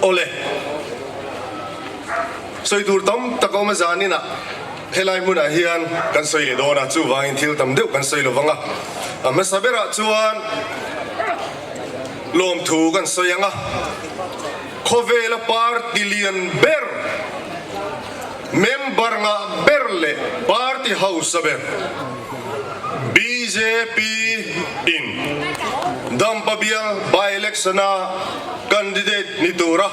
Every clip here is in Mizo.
Awle. Sawi tur tam tak a awm a zanin ah helai hmunah hian kan sawi leh dawn a, chuvangin thil tam deuh kan sawi lovang a. A hmasa berah chuan lawmthu kan sawi ang a, khawvela par tilian ber. Member nghah ber leh party hausa ber BJP in Dampabial by-election a candidate ni tura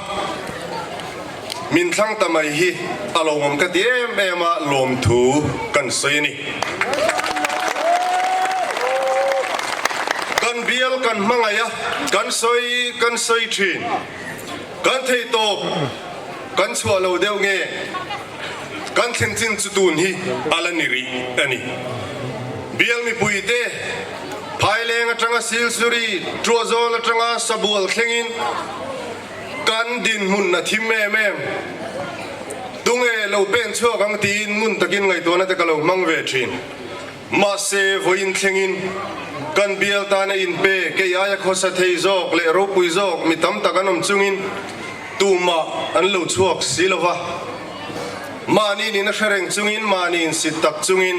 min thlang ta mai hi a lo awm ka ti em em a, lawmthu kan sawi a ni. Kan bial kan hmangaih a, kan sawi kan sawi thin, kan theihtawp. Kan chhuah lo deuh nge? Kan thlenchin chu tun hi a la ni rih a ni. Bial mipui te Thaileng atanga Silsuri Tuazol atanga sabual thlengin kan dinhmun a thim em em. Tunge lo pen chhuak ang tiin ngun takin ngaihtuahna te ka lo hmang ve thin. Mahse, vawiin thlengin kan bial tan a inpe kei aia khawsa thei zawk leh ropui zawk mi tam tak an awm chungin tumah an lo chhuak si lova. Mahni nin a hre reng chungin mahni insit tak chungin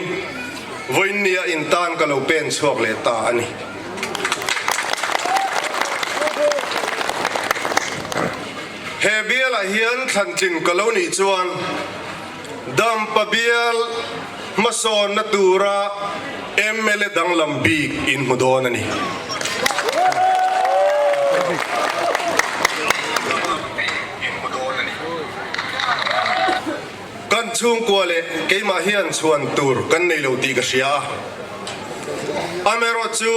vawiin nia in tan ka lo pen chhuak leh ta a ni. He bialah hian thlantlin ka lo nih chuan. Dam pabial hmasawnna tura mla danglam bik in hmu dawn a ni. Kan chhungkua leh keimah hian chhuan tur kan nei lo tih ka hria a. Amerawt chu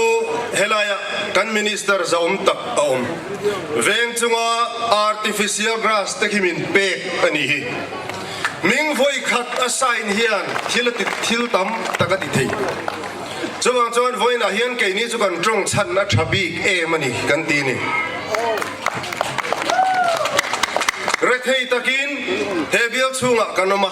helaiah kan Minister za'awm tak a awm veng chunga Artificial Grass te hi min pek a nih hi. Min vawi khat a sign hian thil a ti thil tam tak a ti thei. Chuvang chuan vawiinah hian keini chu kan tawng chhan a tha bik em a ni kan ti ni. Rethei takin he bial chhungah kan awm a.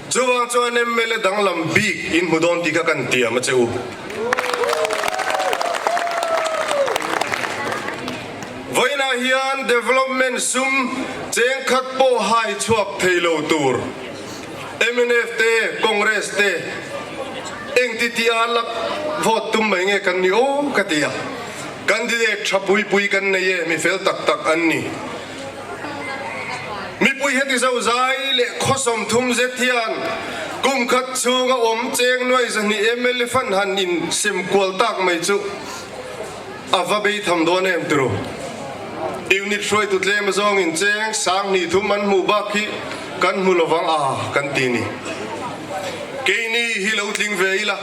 Chuvang chuan mla danglam bik in hmu dawn tih kha kan tiam a che u. Vawiinah hian development sum cheng khat pawh hai chhuak thei lo tur mnf te congress te engtitia a lak vote tum mai nge kan ni aw ka ti a. Candidate tha pui pui kan nei e mi fel tak tak an ni. Mipui heti zo zai leh khawsawm thum zet hian kum khat chhung a awm cheng nuai zahnih mla fan han in sem kual tak mai chu a va bei tham dawn em tru. Unit hruaitu tlem zawng in cheng sang hnih thum an hmuh bak hi kan hmu lo vang a kan ti ni. Kei ni hi lo tling ve ila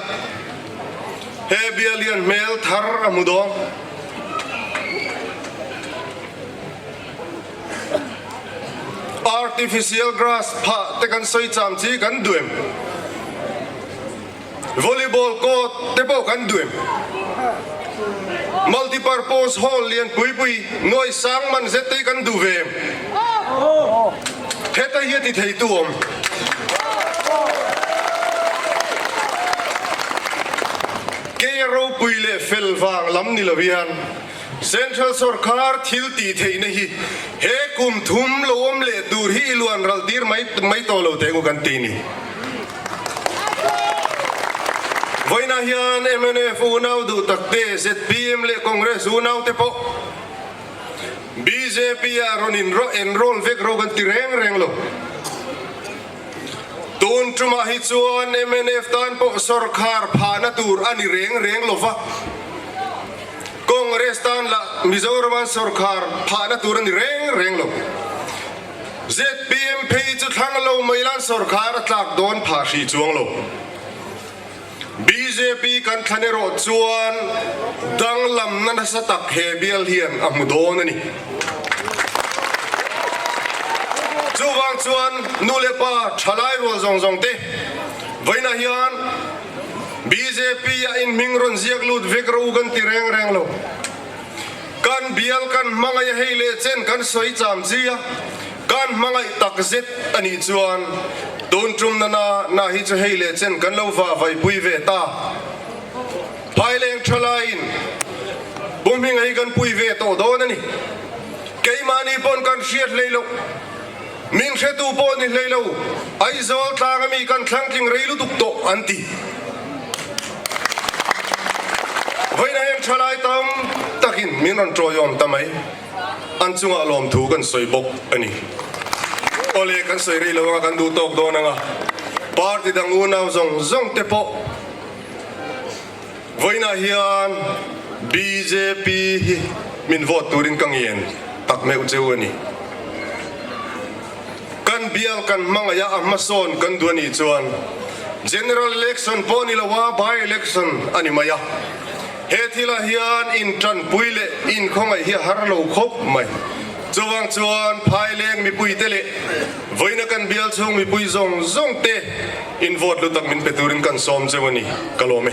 he bialian hmel thar a hmu dawn. Artificial grass phah te kan sawi cham chi kan duem. Volleyball court te pawh kan duem. Multipurpose hall lian pui pui, nuai sang man zet te hi kan duh ve em? Heta hi a ti thei tu awm. Kei a ropui leh fel vang lam ni lo hian, Central sawrkar thil tih theihna hi he kum thum lo awm leh tur hi i luan ral tir mai mai tawh lo teh ngu kan ti ni. Vawiinah hian mnf unau duh tak te, zpm leh congress unau te pawh bjp-ah rawn in enroll vek ro kan ti reng reng lo. Tun tumah hi chuan mnf tan pawh sawrkar phahna tur a ni reng reng lo va. Congress tan lah Mizoraman sawrkar phahna tur a ni reng reng lo. ZPM phei chu thlang lo mai lan sawrkar a tlak dawn phah hri chuang lo. Bjp kan thlan erawh chuan danglamna nasa tak he bial hian a hmu dawn a ni. Chuvang chuan nu leh pa thalai rual zawng zawng te vawiinah hian bjp a inhming rawn ziak lut vek ro u kan ti reng reng lo. Kan bial kan hmangaih a hei leh chen kan sawi cham chi a. Kan hmangaih tak zet a nih chuan tun tum nana na hi chu hei leh chen kan lo va vaipui ve ta. Phaileng tha laiin puhminga hi kan pui ve tawh dawn a ni. Keimahni pawn kan hriat hlei loh, min hretu pawh ni hlei lo, Aizawl tlang ami kan thlangtling rei lutuk tawh an ti. Vawiin a heng thalai tam takin min rawn tawiawm ta mai. an chungah lawm thu kan sawi bawk a ni. Awle kan sawi rih lo ang a, kan duh tawk dawn ang a. Party dang unau zawng zawng te pawh vawiinah hian BJP hi min vote turin ka ngen tak meuh cheu a ni. Kan bial kan hmangaih a, a hmasawn kan duh a nih chuan General Election pawh a ni lo a, By-Election a ni mai a. He thila hian intanpui leh inkhawngaih hi a har lo khawp mai. Chuvang chuan phaileng mipuite leh vawiina kan bial chhung mipui zawng zawng te invote lutak min pe turin kan sawm cheu a ni ka lawm e.